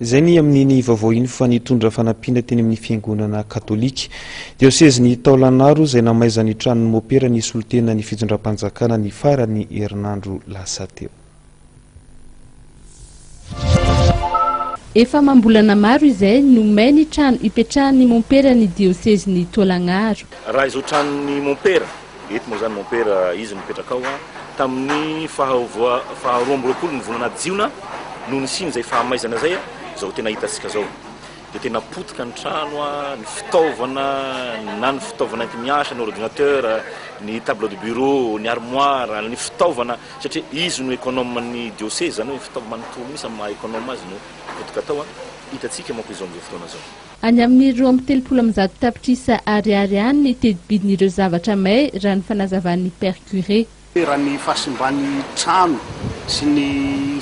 Izay ny amin'iny vaovao iny fa nitondra fanampiana teny amin'ny fiangonana katolika. Diosezin'i Taolagnaro izay namaizan'ny tranon'ny mopera nisolo tena ny fitondram-panjakana ny faran'ny herinandro lasa teo. Efa amam-bolana maro izay no may ny trano ipetrahan'ny momperan'ny diosezin'i Taolagnaro. Raha izao tranon'ny mompera Eto moa izany mompera izy no mipetraka ao. Tamin'ny faha roa amby roapolo ny volana jiona no nisian'izay fahamaizana izay, izao tena hitantsika izao dia tena potika ny trano, ny fitaovana na ny fitaovana entimiasa, ny ordinateur, ny table de bureau, ny armoire, ny fitaovana satria izy no econome ny diocèse izany hoe fitaovana manontolo mihintsy amin'ny maha econome azy no potika tao, hitantsika manko izao amin'izao fotoana izao. Any amin'ny roa amby telopolo amin'ny zato tapitrisa ariary any ny teti-bidin'ireo zavatra may raha ny fanazavan'ny Père Curé. Raha ny fahasimban'ny trano sy ny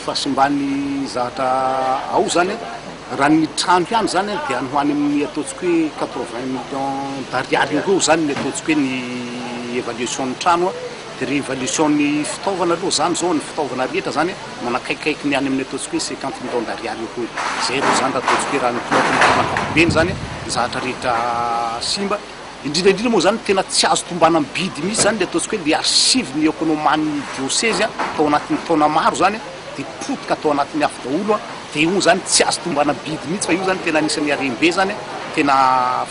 fahasimban'ny zavatra ao izany, raha ny trano ihany izany dia any ho any amin'ny ataontsika hoe quatre-vingts millions d'ariary eo ho eo izany ny ataontsika hoe ny évaluation-n'ny trano. Révolution ny fitaovana aloha zany zao ny fitaovana rehetra zany manakaikaiky ny any amin'ny ataontsika hoe cinquante millions d'ariary eo koa zay aloha zany raha ataontsika hoe raha ny toa tontolo ankapobeny zany ny zahatra rehetra simba indrindra indrindra moa zany tena tsy azo tombana amin'ny bidy mihitsy zany le ataontsika hoe le archive ny economan'ny diocèse a tao anatin'ny taona maro zany de potika atao anatin'ny afo daholo a de io zany tsy azo tombana amin'ny bidy mihitsy fa io zany tena anisan'ny harem-be zany tena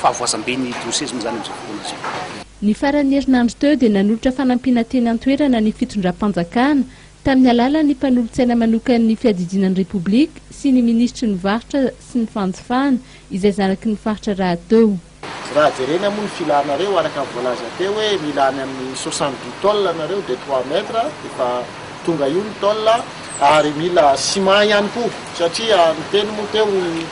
fahavoazam-ben'ny diocèse moa zany am'zao fotoana zao Ny faran'ny herinandro teo dia nanolotra fanampiana teny an-toerana ny fitondram-panjakana, tamin'ny alalan'ny mpanolotsaina manokan'ny Fiadidiana ny Repoblika sy ny Minisitry ny Varotra sy ny Fanjifana, izay zanaky ny faritra rahateo. Raha jerena moa ny filanareo, araka ny voalaza teo hoe mila any amin'ny soixante dix tôles nareo de trois mètres, efa tonga io ny tôle. Ary mila ciment ihany koa satria niteny moa teo i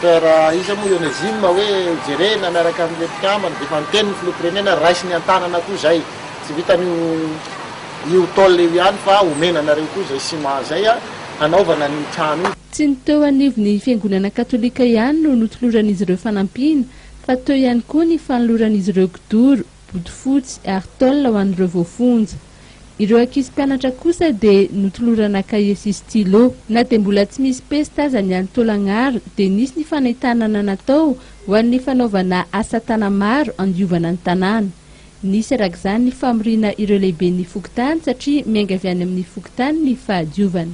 Père iza moa i Onésime hoe hojerena miaraka amin'ireo mpikambana dia efa niteny ny Filoham-pirenena raisiny an-tanana koa izay. Tsy vitan'io io tôle io ihany fa omena anareo koa izay ciment izay hanaovana an'io trano io. Tsy ny teo anivon'ny Fiangonana Katolika ihany no notoloran'izy ireo fanampiana fa teo ihany koa ny fanoloran'izy ireo kidoro. bodofotsy ary tôle ho an'ireo voafonja. Ireo ankizy mpianatra kosa dia notolorana kahie sy stylo. Na dia mbola tsy misy pesta aza ny any Tôlagnaro dia nisy ny fanentanana natao ho an'ny fanaovana asa tana maro andiovana ny tanàna. Nisy araka izany ny famoriana ireo lehiben'ny fokontany satria miainga avy any amin'ny fokontany ny fahadiovana.